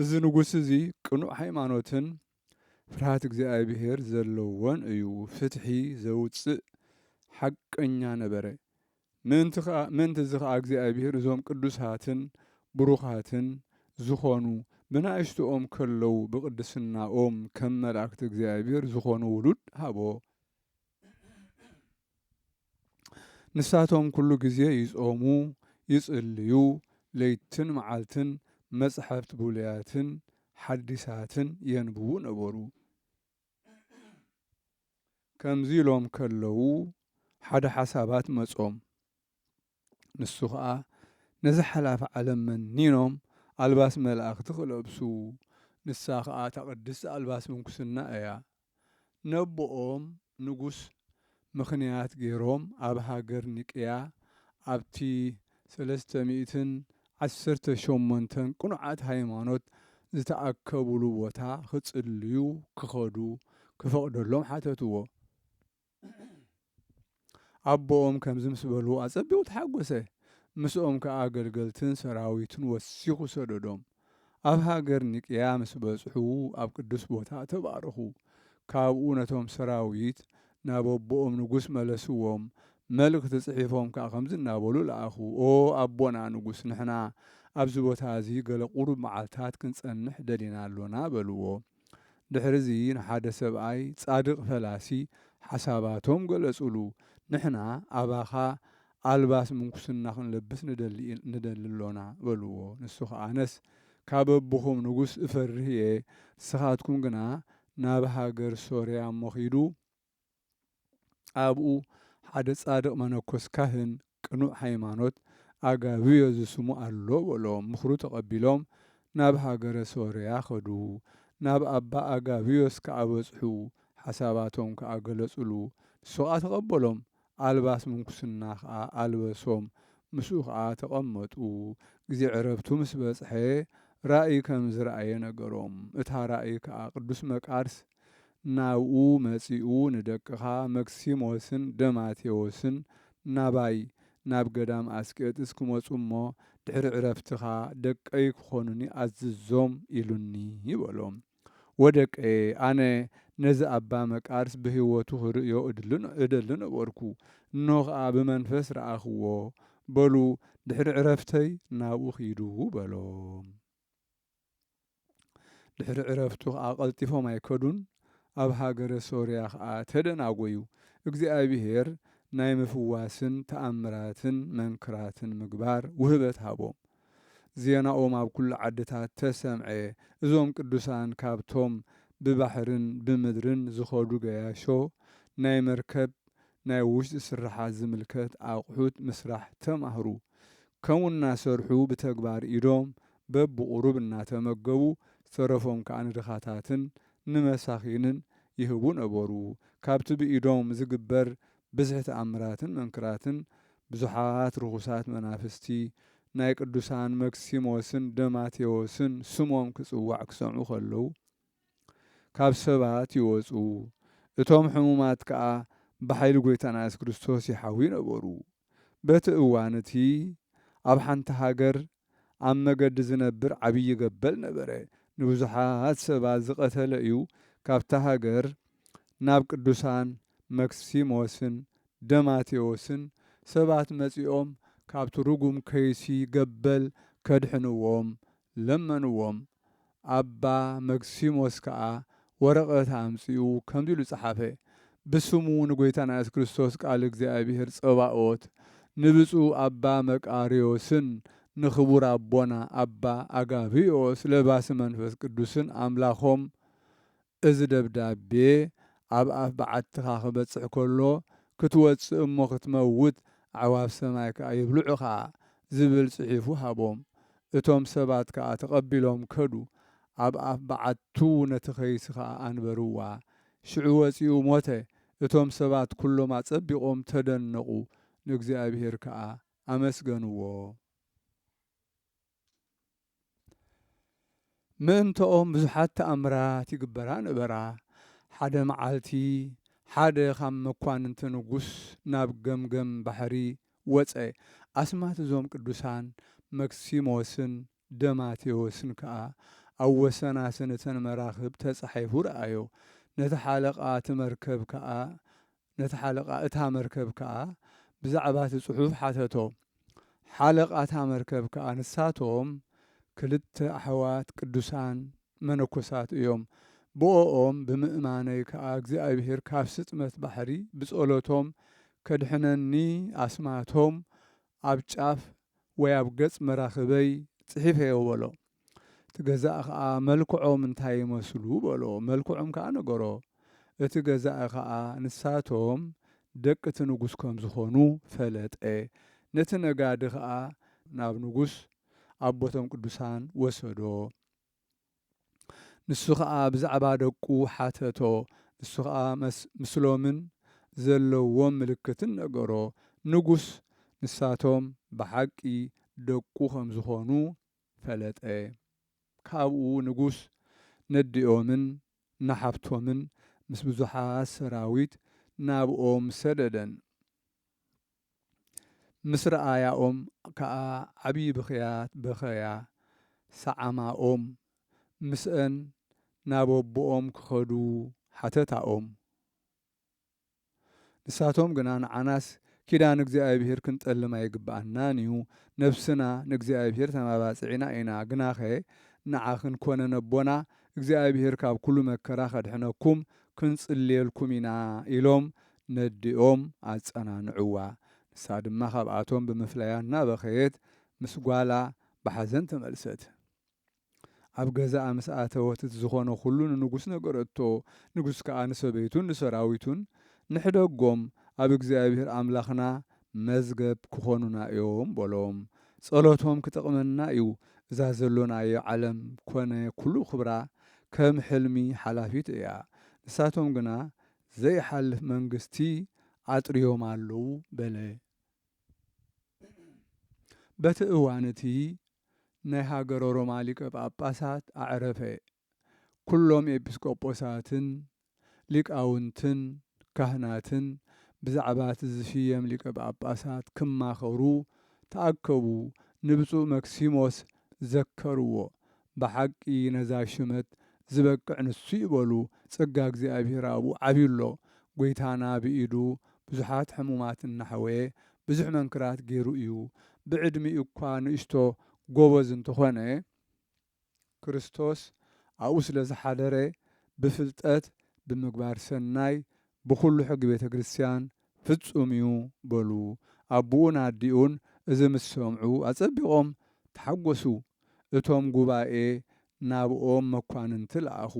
እዚ ንጉስ እዚ ቅኑዕ ሃይማኖትን ፍርሃት እግዚኣብሄር ዘለዎን እዩ፣ ፍትሒ ዘውጽእ ሓቀኛ ነበረ። ምእንቲ እዚ ኸኣ እግዚኣብሄር እዞም ቅዱሳትን ብሩኻትን ዝዀኑ ብናእሽቶኦም ከለዉ ብቕድስናኦም ከም መላእክቲ እግዚኣብሄር ዝዀኑ ውሉድ ሃቦ። ንሳቶም ኩሉ ግዜ ይጾሙ ይጽልዩ ለይትን መዓልትን መጽሐፍት ብሉያትን ሐዲሳትን የንብቡ ነበሩ ከምዚ ኢሎም ከለዉ ሐደ ሐሳባት መጾም። ንሱ ኸኣ ነዛ ሓላፊ ዓለም መኒኖም ኣልባስ መላእኽቲ ክለብሱ ንሳ ኸኣ እታ ቅድስቲ ኣልባስ ምንኩስና እያ ነቦኦም ንጉስ ምኽንያት ገይሮም ኣብ ሃገር ኒቅያ ኣብቲ ሰለስተ ሚእትን ዓሰርተ ሸሞንተን ቅኑዓት ሃይማኖት ዝተኣከቡሉ ቦታ ክጽልዩ ክኸዱ ክፈቕደሎም ሓተትዎ። ኣቦኦም ከምዚ ምስ በልዎ ኣጸቢቑ ተሓጐሰ። ምስኦም ከኣ ኣገልገልትን ሰራዊትን ወሲኹ ሰደዶም። ኣብ ሃገር ኒቅያ ምስ በጽሑ ኣብ ቅዱስ ቦታ ተባረኹ። ካብኡ ነቶም ሰራዊት ናብ ኣቦኦም ንጉስ መለስዎም፣ መልእኽቲ ጽሒፎም ከኣ ከምዚ እናበሉ ለኣኹ፣ ኦ ኣቦና ንጉስ ንሕና ኣብዚ ቦታ እዚ ገለ ቁሩብ መዓልታት ክንጸንሕ ደሊና ኣሎና በልዎ። ድሕርዚ ንሓደ ሰብኣይ ጻድቕ ፈላሲ ሓሳባቶም ገለጹሉ፣ ንሕና ኣባኻ ኣልባስ ምንኩስና ኽንለብስ ንደሊ ኣሎና፣ በልዎ። ንሱ ኸኣ ኣነስ ካብ ኣቦኹም ንጉስ እፈርህ እየ፣ ንስኻትኩም ግና ናብ ሃገር ሶርያ እሞ ኺዱ፣ ኣብኡ ሓደ ጻድቕ መነኮስ ካህን ቅኑዕ ሃይማኖት ኣጋብዮ ዝስሙ ኣሎ በሎ ምኽሩ ተቐቢሎም ናብ ሃገረ ሶርያ ከዱ ናብ ኣባ ኣጋብዮስ ከኣ በጽሑ ሓሳባቶም ከኣ ገለጹሉ ንሱ ከኣ ተቐበሎም ኣልባስ ምንኩስና ከኣ ኣልበሶም ምስኡ ከኣ ተቐመጡ ግዜ ዕረፍቱ ምስ በጽሐ ራእይ ከም ዝረኣየ ነገሮም እታ ራእይ ከኣ ቅዱስ መቃርስ ናብኡ መጺኡ ንደቅኻ መክሲሞስን ደማቴዎስን ናባይ ናብ ገዳም ኣስቄጥስ ክመጹ እሞ ድሕሪ ዕረፍትኻ ደቀይ ክኾኑኒ ኣዝዞም ኢሉኒ በሎ። ወደቀየ ኣነ ነዚ ኣባ መቃርስ ብሕይወቱ ክርእዮ እደሊ ነበርኩ እንሆ ከኣ ብመንፈስ ረኣኽዎ በሉ ድሕሪ ዕረፍተይ ናብኡ ኪዱ በሎም። ድሕሪ ዕረፍቱ ኸኣ ቀልጢፎም ኣይከዱን፣ ኣብ ሃገረ ሶርያ ኸኣ ተደናጐዩ። እግዚኣብሄር ናይ ምፍዋስን ተኣምራትን መንክራትን ምግባር ውህበት ሃቦም። ዜናኦም ኣብ ኵሉ ዓድታት ተሰምዐ፣ እዞም ቅዱሳን ካብቶም ብባሕርን ብምድርን ዝኸዱ ገያሾ ናይ መርከብ ናይ ውሽጢ ስርሓት ዝምልከት ኣቕሑት ምስራሕ ተማህሩ ከምኡ እናሰርሑ ብተግባር ኢዶም በብቑሩብ እናተመገቡ ዝተረፎም ከኣ ንድኻታትን ንመሳኺንን ይህቡ ነበሩ ካብቲ ብኢዶም ዝግበር ብዝሒ ተኣምራትን መንክራትን ብዙሓት ርኹሳት መናፍስቲ ናይ ቅዱሳን መክሲሞስን ደማቴዎስን ስሞም ክጽዋዕ ክሰምዑ ከለዉ ካብ ሰባት ይወጹ፣ እቶም ሕሙማት ከኣ ብሓይሊ ጐይታና የሱስ ክርስቶስ ይሓውዩ ነበሩ። በቲ እዋን እቲ፣ ኣብ ሓንቲ ሃገር ኣብ መገዲ ዚነብር ዓብዪ ገበል ነበረ፣ ንብዙሓት ሰባት ዝቐተለ እዩ፣ ካብታ ሃገር ናብ ቅዱሳን መክሲሞስን ደማቴዎስን ሰባት መጺኦም ካብቲ ርጉም ከይሲ ገበል ከድሕንዎም ለመንዎም፣ ኣባ መክሲሞስ ከኣ ወረቐት ኣምጺኡ ከምዚ ኢሉ ጸሓፈ፣ ብስሙ ንጐይታና ኢየሱስ ክርስቶስ ቃል እግዚኣብሔር ጸባኦት፣ ንብጹእ ኣባ መቃርዮስን ንኽቡር ኣቦና ኣባ ኣጋብዮስ ለባሲ መንፈስ ቅዱስን ኣምላኾም እዚ ደብዳቤ ኣብ ኣፍ በዓትኻ ክበጽሕ ከሎ፣ ክትወጽእ እሞ ክትመውት፣ ኣዕዋፍ ሰማይ ከኣ የብልዑኻ፣ ዝብል ጽሒፉ ሃቦም። እቶም ሰባት ከኣ ተቐቢሎም ከዱ። ኣብ ኣፍ በዓቱ ነቲ ከይሲ ከኣ ኣንበርዋ። ሽዑ ወጺኡ ሞተ። እቶም ሰባት ኩሎም ኣጸቢቖም ተደነቑ፣ ንእግዚኣብሄር ከኣ ኣመስገንዎ። ምእንተኦም ብዙሓት ተኣምራት ይግበራ ነበራ። ሓደ መዓልቲ ሓደ ኻብ መኳንንቲ ንጉስ ናብ ገምገም ባሕሪ ወጸ፣ ኣስማት እዞም ቅዱሳን መክሲሞስን ደማቴዎስን ከኣ ኣብ ወሰናስን እተን መራኽብ ተጻሒፉ ረኣዮ። ነቲ ሓለቓ እቲ መርከብ ከኣ ነቲ ሓለቓ እታ መርከብ ከኣ ብዛዕባ እቲ ጽሑፍ ሓተቶ። ሓለቓ እታ መርከብ ከኣ ንሳቶም ክልተ ኣሕዋት ቅዱሳን መነኮሳት እዮም፣ ብኦኦም ብምእማነይ ከኣ እግዚኣብሔር ካብ ስጥመት ባሕሪ ብጸሎቶም ከድሕነኒ ኣስማቶም ኣብ ጫፍ ወይ ኣብ ገጽ መራኽበይ ጽሒፈዮ በሎም። እቲ ገዛኢ ኸኣ፣ መልክዖም እንታይ ይመስሉ? በሎ። መልክዖም ከኣ ነገሮ። እቲ ገዛኢ ኸኣ፣ ንሳቶም ደቂ እቲ ንጉስ ከም ዝዀኑ ፈለጠ። ነቲ ነጋዲ ኸኣ ናብ ንጉስ፣ ኣቦ'ቶም ቅዱሳን፣ ወሰዶ። ንሱ ኸኣ ብዛዕባ ደቁ ሓተቶ። ንሱ ኸኣ ምስሎምን ዘለዎም ምልክትን ነገሮ። ንጉስ፣ ንሳቶም ብሓቂ ደቁ ከም ዝዀኑ ፈለጠ። ካብኡ ንጉስ ነዲኦምን ንሓብቶምን ምስ ብዙሓት ሰራዊት ናብኦም ሰደደን። ምስ ረኣያኦም ከኣ ዓብዪ ብኽያት በኸያ፣ ሰዓማኦም፣ ምስአን ናብ ኣቦኦም ክኸዱ ሓተታኦም። ንሳቶም ግና ንዓናስ ኪዳን እግዚኣብሄር ክንጠልም ኣይግብኣናን እዩ፣ ነፍስና ንእግዚኣብሄር ተማባጺዕና ኢና፣ ግናኸ ንዓኽን ኰነ ነቦና እግዚኣብሄር ካብ ኵሉ መከራ ከድሕነኩም ክንጽልየልኩም ኢና ኢሎም ነዲኦም ኣጸናንዕዋ። ንሳ ድማ ካብኣቶም ብምፍላያ እናበኸየት ምስ ጓላ ብሓዘን ተመልሰት። ኣብ ገዛኣ ምስ ኣተወት እቲ ዝዀነ ዅሉ ንንጉስ ነገረቶ፣ ንጉስ ከኣ ንሰበይቱን ንሰራዊቱን፣ ንሕደጎም፣ ኣብ እግዚኣብሄር ኣምላኽና መዝገብ ኪዀኑና እዮም፣ በሎም። ጸሎቶም ኪጠቕመና እዩ፣ እዛ ዘሎናዮ ዓለም ኰነ ኵሉ ኽብራ ከም ሕልሚ ሓላፊት እያ፣ ንሳቶም ግና ዘይሓልፍ መንግስቲ ኣጥርዮም ኣለዉ፣ በለ። በቲ እዋን እቲ ናይ ሃገረ ሮማ ሊቀ ጳጳሳት ኣዕረፈ፣ ኵሎም ኤጲስቆጶሳትን ሊቃውንትን ካህናትን ብዛዕባ እቲ ዝሽየም ሊቀ ጳጳሳት ክማኸሩ ተኣከቡ፣ ንብፁዕ መክሲሞስ ዘከርዎ፣ ብሓቂ ነዛ ሽመት ዝበቅዕ ንሱ እዩ በሉ ጸጋ እግዚኣብሔር ኣብኡ ዓብዩ ኣሎ ጎይታና ብኢዱ ብዙሓት ሕሙማት እናሕወየ ብዙሕ መንክራት ገይሩ እዩ ብዕድሚኡ እኳ ንእሽቶ ጎበዝ እንተኾነ ክርስቶስ ኣብኡ ስለዝሓደረ ብፍልጠት ብምግባር ሰናይ ብኹሉ ሕጊ ቤተ ክርስቲያን ፍጹም እዩ በሉ። ኣቡኡን ኣዲኡን እዚ ምስ ሰምዑ ኣጸቢቖም ተሓጐሱ። እቶም ጉባኤ ናብኦም መኳንንቲ ለኣኹ፣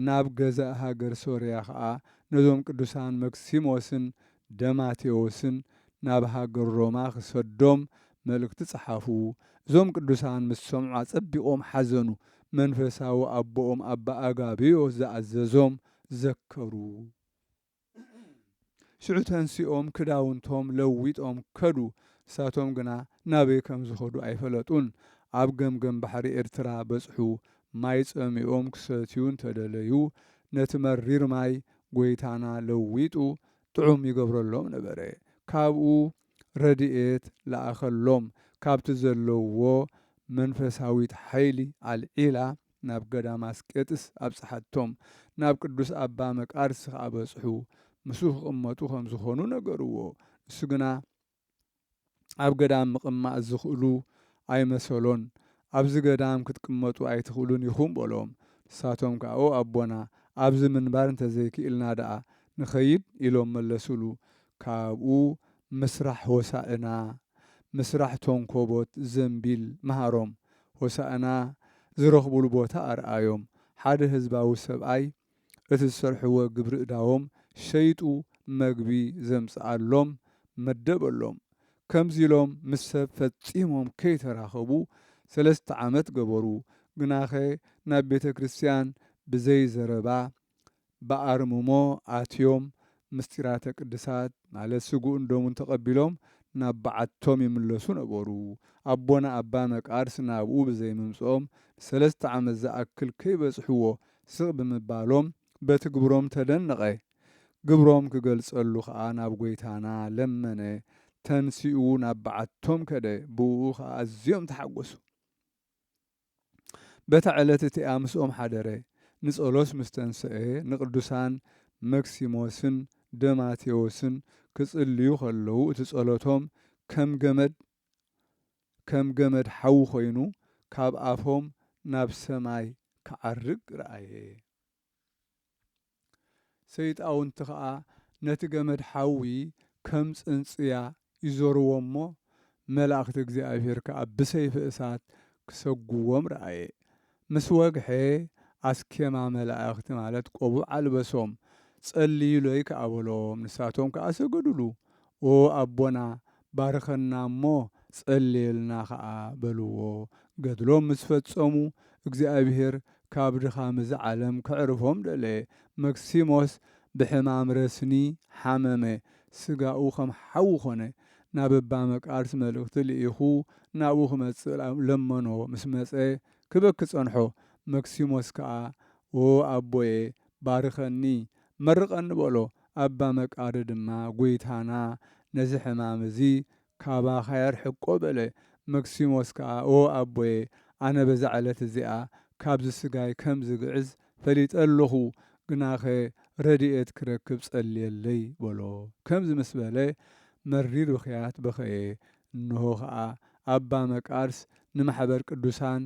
ናብ ገዛእ ሃገር ሶርያ ኸኣ ነዞም ቅዱሳን መክሲሞስን ደማቴዎስን ናብ ሃገር ሮማ ኽሰዶም መልእኽቲ ጸሓፉ። እዞም ቅዱሳን ምስ ሰምዑ ኣጸቢቖም ሓዘኑ። መንፈሳዊ ኣቦኦም ኣባ ኣጋብዮስ ዝኣዘዞም ዘከሩ። ሽዑ ተንሲኦም ክዳውንቶም ለዊጦም ከዱ። ንሳቶም ግና ናበይ ከም ዝኸዱ ኣይፈለጡን። ኣብ ገምገም ባሕሪ ኤርትራ በጽሑ። ማይ ጸሚኦም ክሰትዩ እንተ ደለዩ፣ ነቲ መሪር ማይ ጐይታና ለዊጡ ጥዑም ይገብረሎም ነበረ። ካብኡ ረድኤት ለኣኸሎም። ካብቲ ዘለዉዎ መንፈሳዊት ሓይሊ ኣልዒላ ናብ ገዳም ኣስቄጥስ ኣብጽሓቶም፣ ናብ ቅዱስ ኣባ መቃርስ ኸኣ በጽሑ፣ ምስኡ ክቕመጡ ከም ዝኾኑ ነገርዎ፣ ንሱ ግና ኣብ ገዳም ምቕማጥ ዝኽእሉ ኣይመሰሎን፣ ኣብዚ ገዳም ክትቅመጡ ኣይትኽእሉን ኢኹም በሎም፣ ንሳቶም ከኣ ኦ ኣቦና ኣብዚ ምንባር እንተዘይክኢልና ደኣ ንኸይድ ኢሎም መለሱሉ፣ ካብኡ ምስራሕ ሆሳእና ምስራሕ ቶንኮቦት ዘንቢል ምሃሮም ሆሳእና ዝረኽቡሉ ቦታ ኣርኣዮም ሓደ ህዝባዊ ሰብኣይ እቲ ዝሰርሕዎ ግብሪእዳዎም ሸይጡ መግቢ ዘምጽኣሎም መደበሎም ከምዚ ኢሎም ምስ ሰብ ፈጺሞም ከይተራኸቡ ሰለስተ ዓመት ገበሩ ግናኸ ናብ ቤተክርስትያን ብዘይ ዘረባ ብኣርምሞ ኣትዮም ምስጢራተ ቅድሳት ማለት ስግኡን ደሙን ተቐቢሎም ናብ በዓቶም ይምለሱ ነበሩ። ኣቦና ኣባ መቃርስ ናብኡ ብዘይምምጽኦም ንሰለስተ ዓመት ዝኣክል ከይበጽሕዎ ስቕ ብምባሎም በቲ ግብሮም ተደነቐ። ግብሮም ክገልጸሉ ከኣ ናብ ጐይታና ለመነ። ተንሲኡ ናብ በዓቶም ከደ፣ ብእኡ ከኣ ኣዝዮም ተሓጐሱ። በታ ዕለት እቲኣ ምስኦም ሓደረ፣ ንጸሎት ምስ ተንሰኤ ንቅዱሳን መክሲሞስን ደማቴዎስን ክጽልዩ ከለዉ እቲ ጸሎቶም ከም ገመድ ከም ገመድ ሓዊ ኮይኑ ካብ ኣፎም ናብ ሰማይ ክዓርግ ረኣየ። ሰይጣውንቲ ኸኣ ነቲ ገመድ ሓዊ ከም ጽንጽያ ይዞርዎ እሞ፣ መላእኽቲ እግዚኣብሄር ከኣ ብሰይፊ እሳት ክሰጉዎም ረኣየ። ምስ ወግሐ፣ ኣስኬማ መላእኽቲ ማለት ቆቡዕ ኣልበሶም። ጸልዩለይ ከኣ በሎም፣ ንሳቶም ከኣ ሰገዱሉ። ኦ ኣቦና ባርኸና እሞ ጸልየልና ኸኣ በልዎ። ገድሎም ምስ ፈጸሙ እግዚኣብሔር ካብ ድኻም እዚ ዓለም ከዕርፎም ደለየ። መክሲሞስ ብሕማም ረስኒ ሓመመ፣ ሥጋኡ ከም ሓዊ ኮነ። ናብ እባ መቃርስ መልእኽቲ ልኢኹ ናብኡ ክመጽእ ለመኖ፣ ምስ መጸ ክበኪ ጸንሖ። መክሲሞስ ከኣ ኦ ኣቦየ ባርኸኒ መርቐኒ በሎ። ኣባ መቃርይ ድማ ጐይታና ነዚ ሕማም እዚ ካባኻ የርሕቆ በለ። መክሲሞስ ከኣ ኦ ኣቦየ ኣነ በዛ ዕለት እዚኣ ካብዚ ስጋይ ከም ዝግዕዝ ፈሊጠ ኣሎኹ፣ ግናኸ ረድኤት ክረክብ ጸልየለይ በሎ። ከምዚ ምስ በለ መሪር ብኽያት በኸየ። እንሆ ኸኣ ኣባ መቃርስ ንማሕበር ቅዱሳን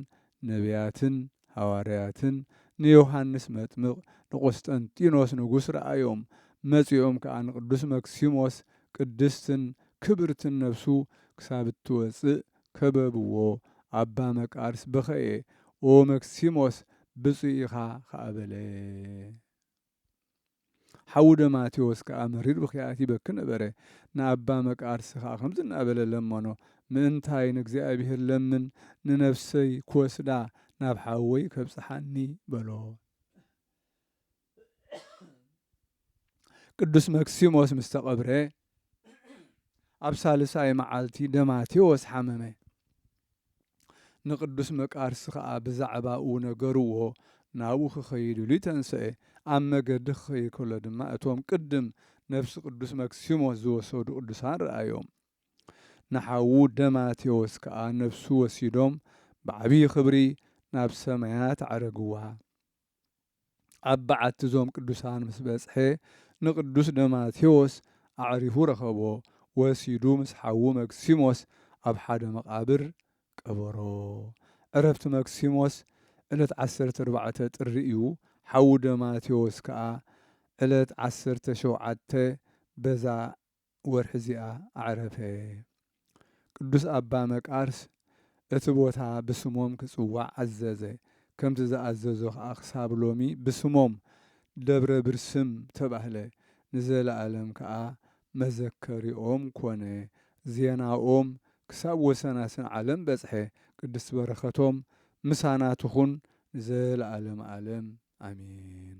ነብያትን ሃዋርያትን ንዮሃንስ መጥምቕ ንቆስጠንጢኖስ ንጉሥ ረኣዮም፣ መጺኦም ከኣ ንቅዱስ መክሲሞስ ቅድስትን ክብርትን ነፍሱ ክሳብ እትወጽእ ከበብዎ፣ ኣባ መቃርስ በኸየ፣ ኦ መክሲሞስ ብጹእ ኢኻ ከኣ በለ። ሓዉ ደማቴዎስ ከኣ መሪር ብኽያት ይበኪ ነበረ። ንኣባ መቃርስ ከኣ ከምዚ እናበለ ለመኖ፣ ምእንታይ ንእግዚኣብሔር ለምን ንነፍሰይ ክወስዳ ናብ ሓወይ ከብጽሓኒ በሎ። ቅዱስ መክሲሞስ ምስ ተቐብረ፣ ኣብ ሳልሳይ መዓልቲ ደማቴዎስ ሓመመ። ንቅዱስ መቃርስ ከኣ ብዛዕባኡ ነገርዎ፣ ናብኡ ክኸይድ ኢሉ ተንሰኤ። ኣብ መገዲ ክኸይድ ከሎ ድማ እቶም ቅድም ነፍሲ ቅዱስ መክሲሞስ ዝወሰዱ ቅዱሳን ረኣዮም። ንሓዉ ደማቴዎስ ከኣ ነፍሱ ወሲዶም ብዓቢይ ክብሪ ናብ ሰማያት ኣዕረግዋ። ኣብ በዓቲ እዞም ቅዱሳን ምስ በጽሐ ንቅዱስ ደማቴዎስ ኣዕሪፉ ረኸቦ፣ ወሲዱ ምስ ሓዉ መክሲሞስ ኣብ ሓደ መቓብር ቀበሮ። ዕረፍቲ መክሲሞስ ዕለት ዓሰርተ ኣርባዕተ ጥሪ እዩ፣ ሓዉ ደማቴዎስ ከኣ ዕለት ዓሰርተ ሸውዓተ በዛ ወርሒ እዚኣ ኣዕረፈ። ቅዱስ ኣባ መቃርስ እቲ ቦታ ብስሞም ክጽዋዕ ኣዘዘ፣ ከምቲ ዝኣዘዞ ከኣ ክሳብ ሎሚ ብስሞም ደብረ ብርስም ተባህለ፣ ንዘለኣለም ከኣ መዘከሪኦም ኮነ፣ ዜናኦም ክሳብ ወሰናስን ዓለም በጽሐ፣ ቅድስት በረከቶም ምሳና ትኹን ንዘለኣለም ኣለም ኣሜን።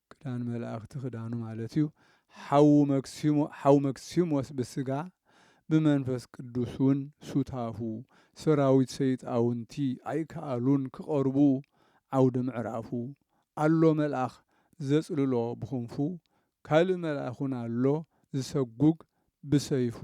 ክዳን መላእክቲ ክዳኑ ማለት እዩ። ሓዉ መክሲሞ ሓው መክሲሞስ ብስጋ ብመንፈስ ቅዱስ ውን ሱታፉ ሰራዊት ሰይጣውንቲ ኣይከኣሉን ክቐርቡ ዓውደ ምዕራፉ ኣሎ መልኣኽ ዘጽልሎ ብኽንፉ ካልእ መልኣኽ ውን ኣሎ ዝሰጉግ ብሰይፉ።